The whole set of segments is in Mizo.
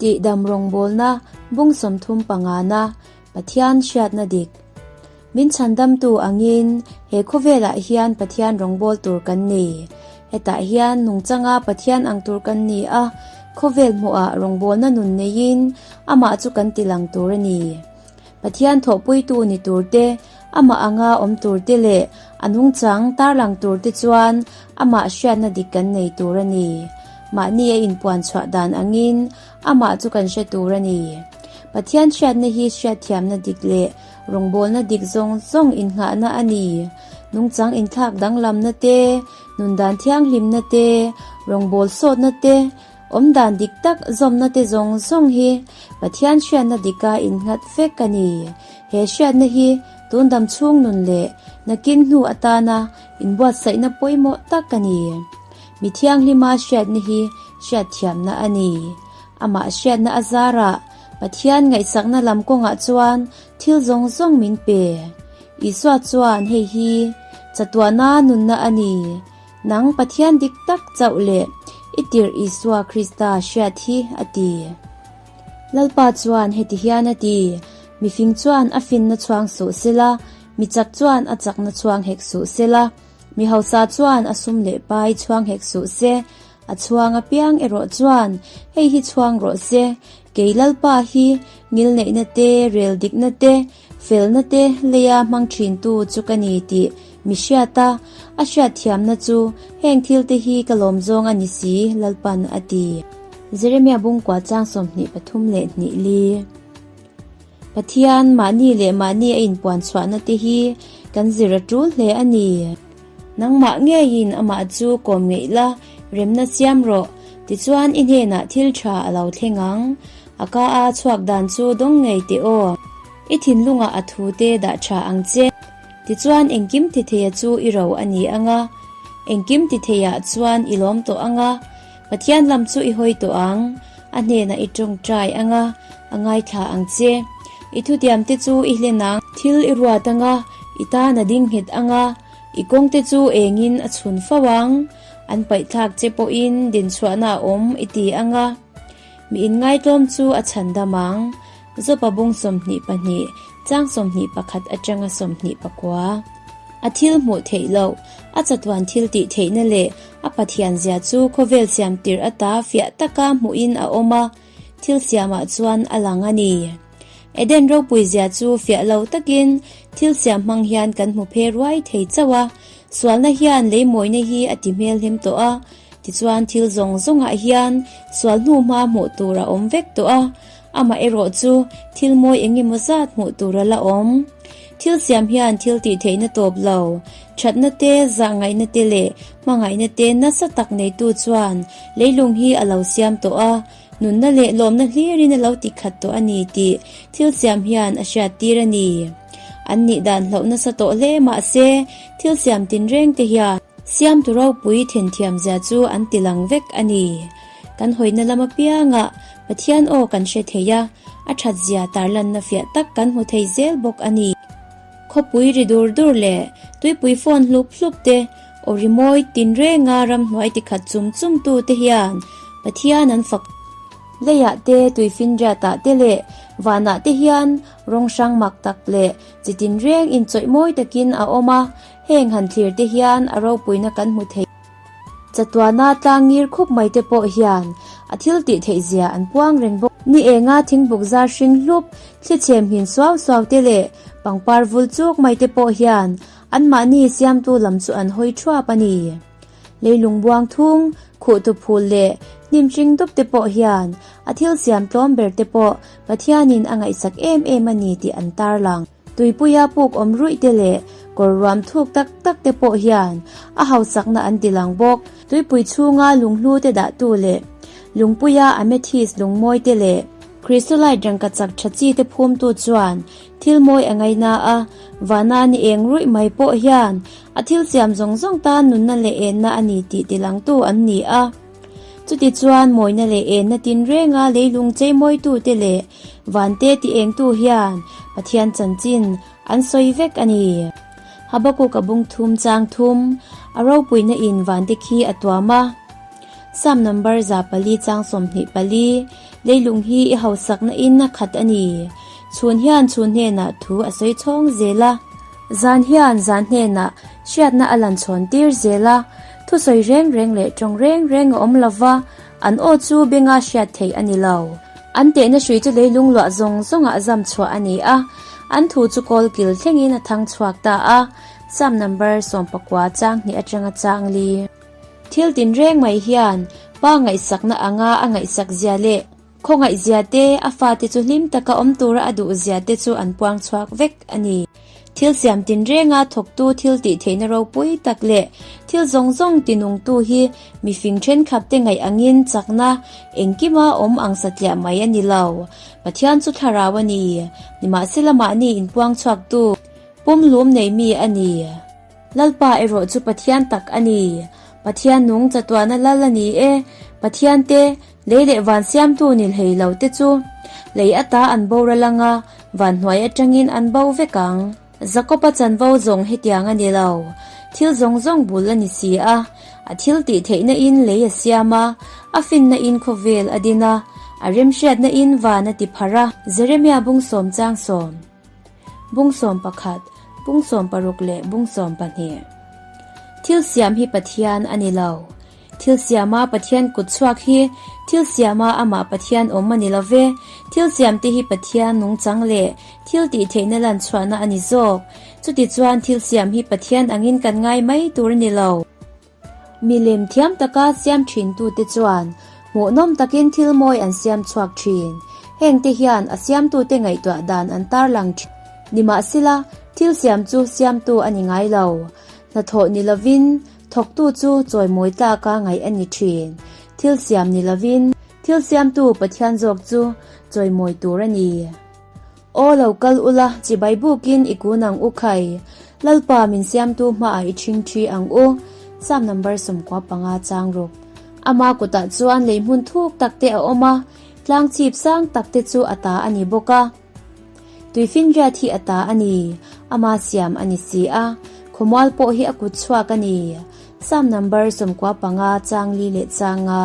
Tihdam rawngbawlna, bung sawmthum pangana, Pathian hriatna dik. Min chhandamtu angin he khawvelah hian Pathian rawngbâwl tur kan ni. Hetah hian nungchanga Pathian ang tur kan ni a, khawvel hmuhah rawngbawlna nun neiin amah chu kan tilang tur a ni. Pathian thawhpuitu ni tur te, Amah anga awm tur te leh a nungchang tar lang tur te chuan Amah hriatna dik kan nei tur a ni. Mahni a inpuan chhuah dan angin Amah chu kan hre tur a ni. Pathian hriatna hi hriatthiamna dik leh rawngbawlna dik zawng zawng innghahna a ni. Nungchang inthlak danglamna te, nundan thianghlimna te, rawngbawlsawtna te, Awmdan dik tak zawmnate zawng zawng hi Pathian hriatna dika innghat vek a ni. He hriatna hi tundam chhung nun leh nakin hnu atana inbuatsaihna pawimawh tak a ni. Mi thianghlima hriatna hi hriatthiamna a ni. Amah hriatna a zarah Pathian ngaihsakna lam kawngah chuan thil zawng zawng min pe. Isua chuan hei hi chatuahna nunna a ni. Nang Pathian dik tak chauh leh i tirh Isua Krista hriat hi a ti. Lalpa chuan heti hian a ti, Mifing chuan a finna chhuang suh se la, mi chak chuan a chakna chhuang hek suh se la, mi hausa chuan a sum leh pai chhuang hek suh se. A chhuang apiang erawh chuan hei hi chhuang rawh se, Kei Lalpa hi ngilneihna te, rel dikna te, Felna te lei a hmang thintu chu ka ni tih mi hriat a, a hriatthiamna chu heng thil te hi ka lawm zawng a ni si, Lalpan a ti. Jeremia bung kua chang sawmhnih pathum leh hnih li. Pathian mahni leh mahni a inpuan chhuahna te hi kan zir a tul hle a ni. Nangmah ngeiin amah chu kawm ngeih la, remna siam rawh, tichuan i hnenah thil tha a lo thleng ang. A ka a chhuak dan chu dawng ngei teh aw, i thinlungah a thu te dah tha ang che. Tichuan engkim titheia chu i ro a ni anga, engkim titheia chuan i lawm tawh anga, Pathian lam chu i hawi tawh ang, a hnenah i tawngtai ang a, a ngaithla ang che. I thutiamte chu i hlen ang, thil i ruat ang a, i tan a ding nghet ang a, i kawngte chu engin a chhun fo ang, an paihthlak che pawhin dinchhuahna a awm i ti ang a, miin ngaitlawm chu a chhandam ang. Zopabung sawmhnih pahnih, chang sawmhnih pakhat atanga sawmhnih pakua. A thil hmuh theih loh, a chatuan thil tih theihna leh a Pathian zia chu khawvel siam tirh ata fiah taka hmuhin a awm a, thil siamah chuan a lang a ni. Eden ropui zia chu fiah lo takin thil siam hmang hian kan hmu phe ruai thei chauh a, sualna hian leimawina hi a ti hmelhem tawh a, tichuan thil zawng zawngah hian sual hnuhma hmuh tur a awm vek tawh a, Amah erawh chu thil mawi eng emaw zat hmuh tur a la awm. Thil siam hian thil tih theihna tawp lo, thatna te, zah ngaihna te leh hmangaihna te nasa tak neitu chuan leilung hi a lo siam tawh a, nunna leh lawmna hlirin a lo ti khat tawh a ni tih thil siam hian a hriat tir a ni. An nih dan hloh nasa tawh hle mah se, thil siam tinreng te hian. Siamtu ropui then thiam zia chu an ti lang vek a ni. Kan hawihna lam apiangah Pathian aw kan hre thei a, a thatzia tarlanna fiah tak kan hmu thei zel bawk a ni. Khawpui ri dur dur leh tuipui fawn hlup hlup te, aw ri mawi tinrenga ramhnuai tikhat chum chum tu te hian Pathian an fak. Leiah te, tuifinriatah te leh vanah te hian rawng hrang mak tak leh chi tinreng inchawih mawi takin a awm a, heng han thlir te hian a ropuina kan hmu thei. Chatuana tlang ngir khup mai te pawh hian a thil tih theih zia an puang reng bawk. Ni enga thingbuk zar hring hlup, thlichhem hin suau suau te leh pangpar vul chuk mai te pawh hian anmahni siamtu lam chu an hawi thuap a ni. Leilung buangthung, khuh tu phul leh hnim hring dup te pawh hian a thil siam tlawm ber te pawh Pathianin a ngaihsak em em a ni tih an tarlang. Tuipuia puk awm ruih te leh kawr ruam thuk tak tak te pawh hian a hauchakna an ti lang bawk. Tuipui chhunga lunghlu te dahtu leh lungpuia amethyst lungmawi te leh. Christolite rengka chak tha chi te phumtu chuan thil mawi a ngaih na a, vana ni eng ruih mai pawh hian a thil siam zawng zawng tan nunna leh enna a ni tih ti langtu an ni a. Chuti chuan mawina leh enna tinrenga leilung cheimawitute leh vante ti engtu hian Pathian chanchin an sawi vek a ni. Habakuka bungthum chang thum a ropuina in vante khi a tuam a, Psalm number za pali chang sawmhnih pali, Leilung hi i hausakna in a khat a ni. Chhun hian chhun hnenah thu a sawi chhawng zel a. Zan hian zan hnenah hriatna a lanchhawn tir zel a. Thusawi reng reng leh tawng reng reng a awm lova, an aw chu benga hriat theih a ni lo. An tehna hrui chu leilung luah zawng zawngah zam chhuah a ni a, an thu chu kawl kil thlengin a thang chhuak ta a, Psalm number sawmpakua changhneh atanga changli. Thil tin reng mai hian Pa ngaihsakna anga a ngaihsak zia leh. Khawngaihzia te, a fate chu hlim taka awm tura a duhzia te chu an puang chhuak vek a ni. Thil siam tinrenga thawktu thil tih theihna ropui tak leh thil zawng zawng ti nungtu hi mifing thenkhat te ngaih angin chakna engkima awm ang satliah mai a ni lo. Pathian chu thlarau a ni, nimahsela mahni inpuang chhuaktu pumlum nei mi a ni. Lalpa erawh chu Pathian tak a ni. Pathian nung chatuahna lal a ni e. Pathian te. Lei leh van siamtu ni hlei lo te chu lei a ta an bawr alang a, van hnuai atangin an bo vek ang. Zakopa chanvo zawng hetiang a ni lo, thil zawng zawng bul a ni si a, a thiltih theihna in lei a siam a, a finna in khawvel a din a, a remhriatna in van a ti phar a, Jeremia bung sawm chang sawm. Bungsawm pakhat, bungsawm paruk leh bungsawm pahnih. Thil siam hi Pathian a ni lo. Thil siama Pathian kut chhuak hi thil siama amah Pathian awm a ni lo ve. Thil siamte hi Pathian nungchang leh thil tih theihna lanchhuahna a ni zawk. Chutichuan thil siam hi Pathian angin kan ngai mai tur a ni lo. Milem thiam taka siam thintute chuan hmuhnawm takin thil mawi an siam chhuak thin. Hengte hian a siamtute ngaihtuah dan an tar lang thin. Nimahsela, thil siam chu siamtu a ni ngai lo. Hnathawh ni lovin thawktu chu chawimawi tlaka ngaih a ni thin. Thil siam ni lovin thil siamtu Pathian zawk chu chawimawi tur a ni. Aw lo kal ula, chibai buk in i kun ang u khai. Lalpa min siamtu hma ah i chhing thi ang u. Sam number sumkua panga chang ruk. Ama kut ah chuan lei hmun thuk tak te a awm a, tlang chhip sang tak te chu a ta a ni bawk a. Tui finriat hi a ta a ni. Ama siam a ni si a, khawmual pawh hi a kut chhuak a ni. Sam number sumkua panga chang li leh chang a.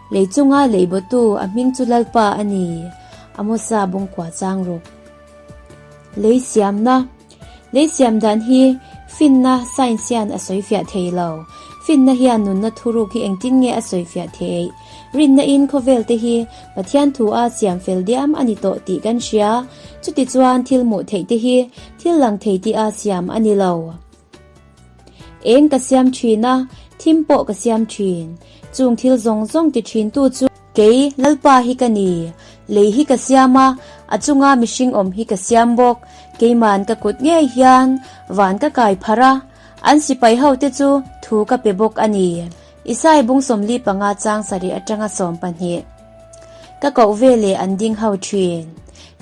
Lei chunga leibotu a hming chu Lalpa a ni, a mawsa bawng kua chang rawk. Lei siamna, Lei siam dan hi finna science hian a sawi fiah thei lo. Finna hian nunna thuruk hi engtin nge a sawi fiah thei? Rinna in khawvel te hi Pathian thu a siam fel diam a ni tawh tih kan hria. Chutichuan thil hmuh theih te hi thil lang thei tia siam a ni lo. Eng ka siam thin a, thim pawh ka siam thin. Chung thil zawng zawng ti thintu chu. Kei, Lalpa hi ka ni. Lei hi ka siam a, a chunga mihring awm hi ka siam bawk. Keiman ka kut ngei hian van ka kai phar a, an sipai hote chu thu ka pe bawk a ni. Isai bung sawmli panga changsa leh atanga sawm pahnih ka koh ve leh an ding ho thin.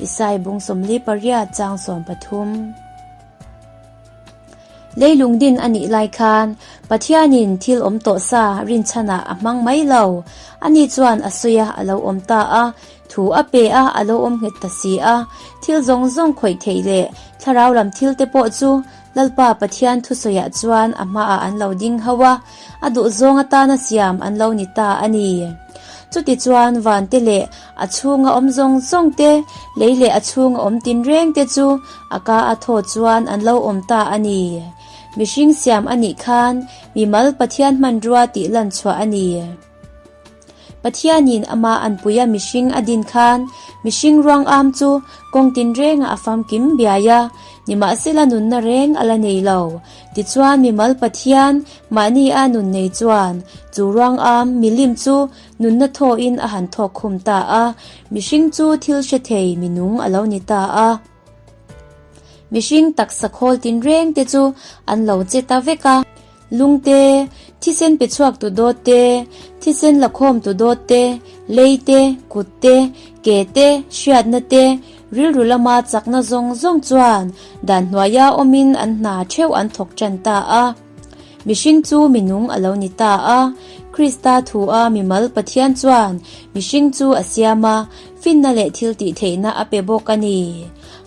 Isai bung sawmli pariat chang sawm pathum. Leilung din a nih lai khan Pathianin thil awm tawh sa rinchhanah a hmang mai lo. Ani chuan a sawi a, a lo awm ta a, thu a pe a, a lo awm nghet ta si a. Thil zawng zawng khawih theih leh thlarau lam thil te pawh chu Lalpa Pathian thusawiah chuan a hmaah an lo ding hau a, a duhzawng atana siam an lo ni ta a ni. Chutichuan vante leh. A chhunga awm zawng zawng te, lei leh a chhunga awm tin reng te chu a ka a thaw chuan an lo awm ta a ni. Mihring siam a nih khan mimal Pathian hmanrua tih lan chhuah a ni. Pathianin amah an pui a mihring a din khan mihring ruang âwm chu kawng tin rengah a famkim biai a, nimahsela nunna reng a la nei lo. Tichuan mimal Pathian mahni a nun nei chuan chu ruang âwm milim chu Nunna thawhin a han thawk khum ta a, mihring chu thil hre thei minung a lo ni ta a. Mihring taksa khawl tin reng te chu an lo che ta vek a. Lung te, thisen pe chhuak tu dawt te, thisen la khawm tu dawt te, lei te, kut te, ke te, hriatna te, rilru lama chakna zawng zawng chuan dan hnuaia awmin an hna theuh an thawk tan ta a. Mihring chu minung a lo ni ta a. Krista thu a mi mal Pathian chuan mihring chu a siam a, finna leh thiltih theihna a pe bawk a ni.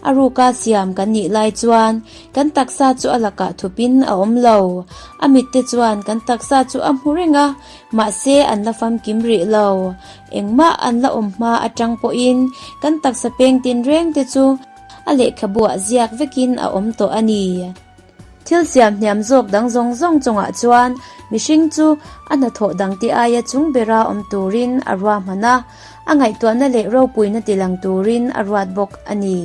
A ruka siam kan nih lai chuan kan taksa chu a lakah thupin a awm lo. A mitte chuan kan taksa chu a hmu reng a, mahse an la famkim rih lo. Engmah an la awm hma atang pawhin kan taksa peng tinrengte chu a lehkhabuah ziak vekin a awm tawh a ni. Thil siam hniam zawk dang zawng zawng chungah chuan mihring chu a hnathawh dangte aia chung bera awm turin a ruahman a, a ngaihtuahna leh ropuina ti lang turin a ruat bawk a ni.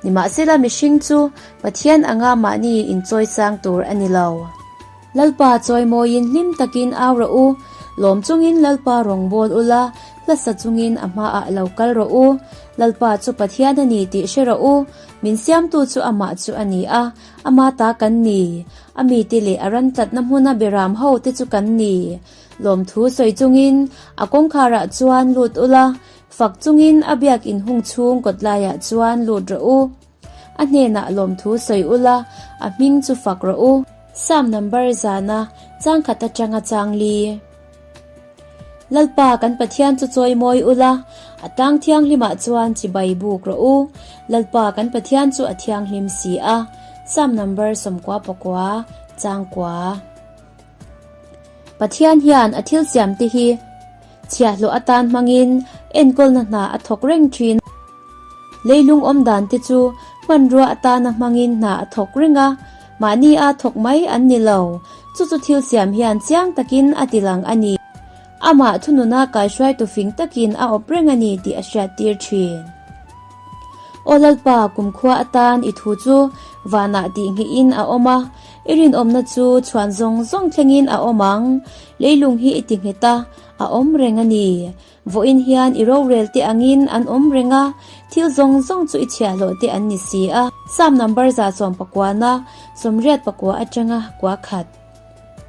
Nimahsela mihring chu Pathian anga mahni in chawisang tur a ni lo. Lalpa chawimawiin hlim takin au rawh u, lawm chungin Lalpa rawngbâwl u la, hla sa chungin a hmaah lo kal rawh u, Lalpa chu Pathian a ni tih hre rawh u, Min siamtu chu amah chu a ni a, amah ta kan ni. A mite leh a ran tlatna hmuna Biram ho te chu kan ni. Lawmthu sawi chungin a kawngkhara chuan lut u la, fak chungin a biak inhung chhung kawt laia chuan lut rawh u. A hnenah lawmthu sawi u la, a hming chu fak rawh u. Sam number zana changkhat atanga chang li. Lalpa kan Pathian chu chawi mawi ula, a tlang thianghlimah chuan chibai buk rawh u. Lalpa kan Pathian chu a thianghlim si a. Psalm number sawmkua pakua, changkua. Pathian hian a thil siamte hi chhiahhlawh atan hmangin enkawlna hna a thawk reng thin a. Leilung awmdante chu hmanrua atana hmangin hna a thawk reng a, Mahni a thawk mai an ni lo. Chu chu thil siam hian chiang takin a tih ang a ni. Amah thununa kaihruaitu fing takin a awp reng a ni tih a hriat tir thin. Aw Lalpa, kumkhua atan i thu chu vanah tih nghihin a awm a, i rinawmna chu chhuan zawng zawng thlengin a awm ang. Leilung hi i ti nghet a, a awm reng a ni. Vawiin hian i rorel te angin an awm reng a, thil zawng zawng chu i chhiahhlawh te an ni si a. Psalm number za chuan pakuana, sawmriat pakua atanga kua khat.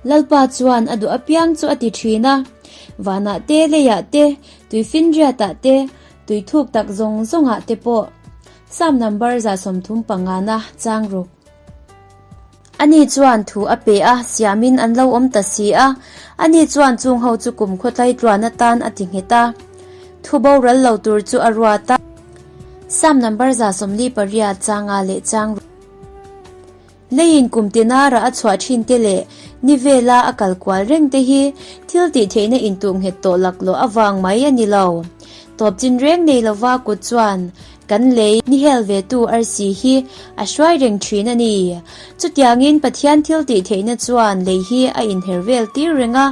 Lalpa chuan a duh apiang chu a ti thin a, vanah te, leiah te, tui finriatah te, tui thuk tak zawng zawngah te pawh. Psalm number za sawmthum pangana chang ruk. Ani chuan thu a pe a, siamin an lo awm ta si a. Ani chuan chung ho chu kum khawtlai tluan atan a ti nghet a. Thu boral lo tur chu a ruat a. Sam number za sawmli pariat changa leh chang rual leiin kum tinara a chhuah thin te leh ni vela a kal kual reng te hi thil tih theihna intuh nghet tawh laklawh avang mai a ni lo. Tawp chin reng nei lova kut chuan Kan lei nihel ve tu arsi hi a hruai reng thin a ni. Chutiangin Pathian thil tih theihna chuan lei hi a inher vel tir reng a,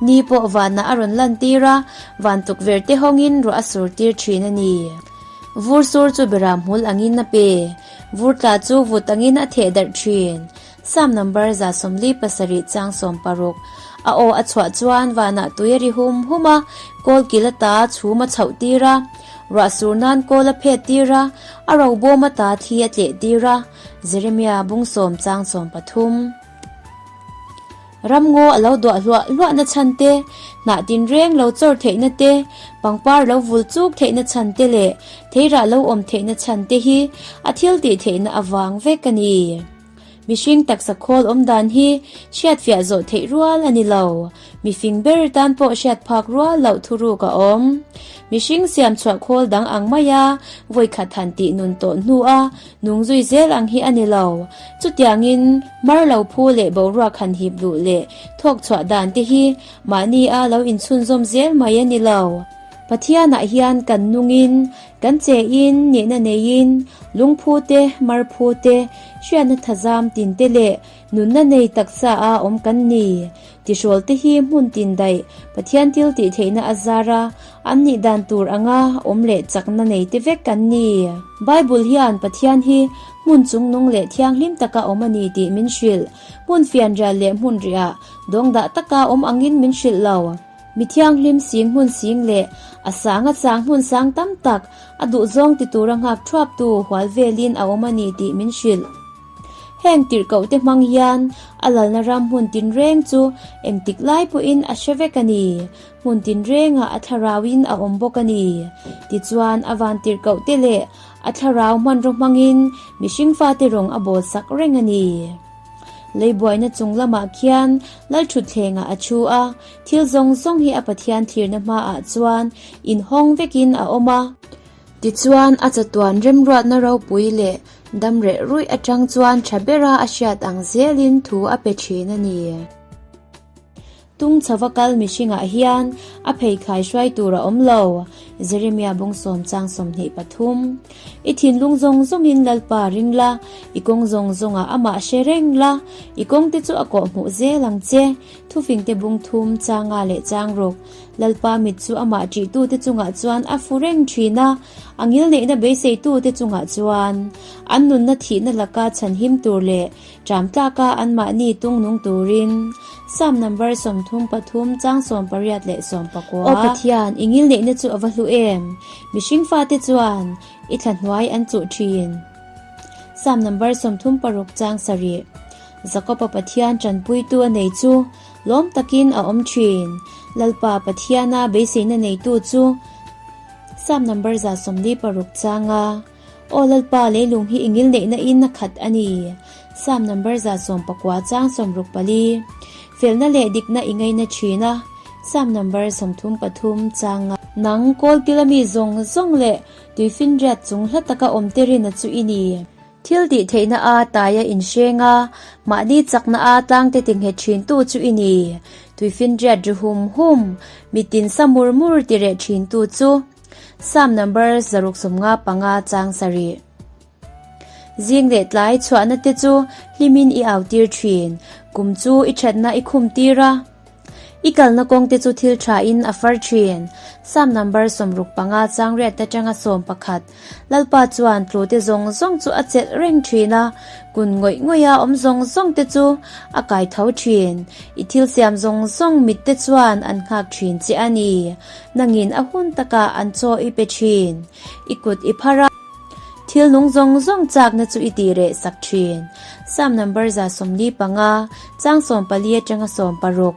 ni pawh vanah a rawn lan tir a, van tukverh te hawngin ruah a sur tir thin a ni. Vur sur chu bera hmul angin a pe, vur tla chu vut angin a theh darh thin. Psalm number za sawmli pasarih chiang sawm paruk a aw a chhuah chuan vanah tui a ri hum hum a, kawl kil a ta a chhum a chhoh tir a, ruah sur nan kawl a phet tir a, a ro bawm a ta thi a tleh tir a, Jeremiah bung sawm chang sawm pathum. Ram ngaw a lo duah hluah hluah na chhan te, hnah tin reng lo chawr theih na te, pangpar lo vul chuk theih na chhan te leh theirah lo awm theih na chhan te hi a thil tih theih na avang vek a ni. Mihring taksa khawl awm dan hi hriatfiah zawh theih rual a ni lo. Mifing ber tan pawh hriat phak rual loh thuruk a awm. Mihring siam chhuah khawl dang ang maia vawikhat han tih nun tawh hnua nung zui zel ang hi a ni lo. Chutiangin mar lo phu leh boruak han hip luh leh thawk chhuah dan te hi mahni a lo inchhunzawm zel mai a ni lo. Pathianah hian kan nungin Kan che in nihna nei in lungphu te, marphu te, hriatna thazam tin te leh nunna nei taksa a awm kan ni. Tihrawl te hi hmun tin daih, Pathian thil tih theihna a zar a, an nih dan tur anga awm leh chakna nei te vek kan ni. Bible hian Pathian hi hmun chungnung leh thianghlim taka awm a ni tih min hrilh. Hmun fianrial leh hmun riah dawngdah taka awm angin min hrilh lo. Mi thianghlim sing hmun sing leh a sanga chang hmun sang tam tak a duhzawng ti tura nghak thuaptu hual velin a awm a ni tih min hrilh. Heng tirhkohte hmang hian a lalna ram hmun tinreng chu engtik lai pawhin a hre vek a ni, hmun tinrengah a thlarauin a awm bawk a ni. Tichuan a van tirhkohte leh a thlarau hmanraw hmangin mihring fate rawng a bawlsak reng a ni. Leibuaina chung lamah khian Lalthutthlengah a thu a, thil zawng zawng hi a Pathian thlirna hmaah chuan inhawng vekin a awm a. Tichuan a chatuan remruatna ropui leh dam reh ruih atang chuan tha bera a hriat ang zelin thu a pe thin a ni. Tung chhova kal mihringah hian a pheithlai hruai tur a awm lo. Jeremia bung sawm chang sawmhnih pathum. I thinlung zawng zawngin Lalpa a ring la, i kawng zawng zawngah Amah a hre reng la, i kawngte chu a kawh hmuh zel ang che. Thufingte bung thum changa leh chang ruk. Lalpa mit chu Amah ṭihtute chungah chuan a fu reng ṭhin a, a ngilneihna beiseitute chungah chuan an nunna thihna laka chhanhim tur leh Ṭamtlaka anmahni tungnung turin Psalm number sawmthum pathum chang sawm pariat leh sawm pakua. Aw Pathian, i ngil neihna chu a va hlu em? Mihring fate chuan i thla hnuai an chuh ṭhin. Psalm number sawmthum paruk chang sarih. Jakopa Pathian ṭanpuitu a nei chu lawm takin a awm ṭhin. Lalpa Pathiana beiseina neitu chu Psalm number za sawmli paruk changa. Aw Lalpa, leilung hi i ngil neihna in a khat a ni. Psalm number za sawm pakua chang sawm ruk pali. Felna leh dikna i ngaina thin a. Psalm number sawmthum pathum chang nga. Nang Kawlpil a mi zawng zawng leh tui finriat chung hla taka awmte rina chu i ni. Thil tih theihna a tai a inhreng a, mahni chakna a tlangte ti nghet thin tu chu i ni. Tui finriat ri hum hum, mitin sa mur mur ti reh thin tu chu. Psalm number zaruk sum nga panga chang sarih. Zing leh tlai chhuahna te chu hlimin i au tir thin, kum chu i thatna i khum tir a. I kalna kawng te chu thil tha in a far thin. Psalm number sawmruk panga chang riat atanga sawm pakhat. Lalpa chuan tlute zawng zawng chu a chelh reng thin a, kun ngawih ngawih a awm zawng zawng te chu a kai tho thin. I thil siam zawng zawng mit te chuan an nghak thin che a ni. Nangin a hun taka an chaw i pe thin, i kut i phar a. Thilnung zawng zawng chakna chu i tih reh sak thin. Psalm number za sawmli panga, chang sawm pali atanga sawm paruk.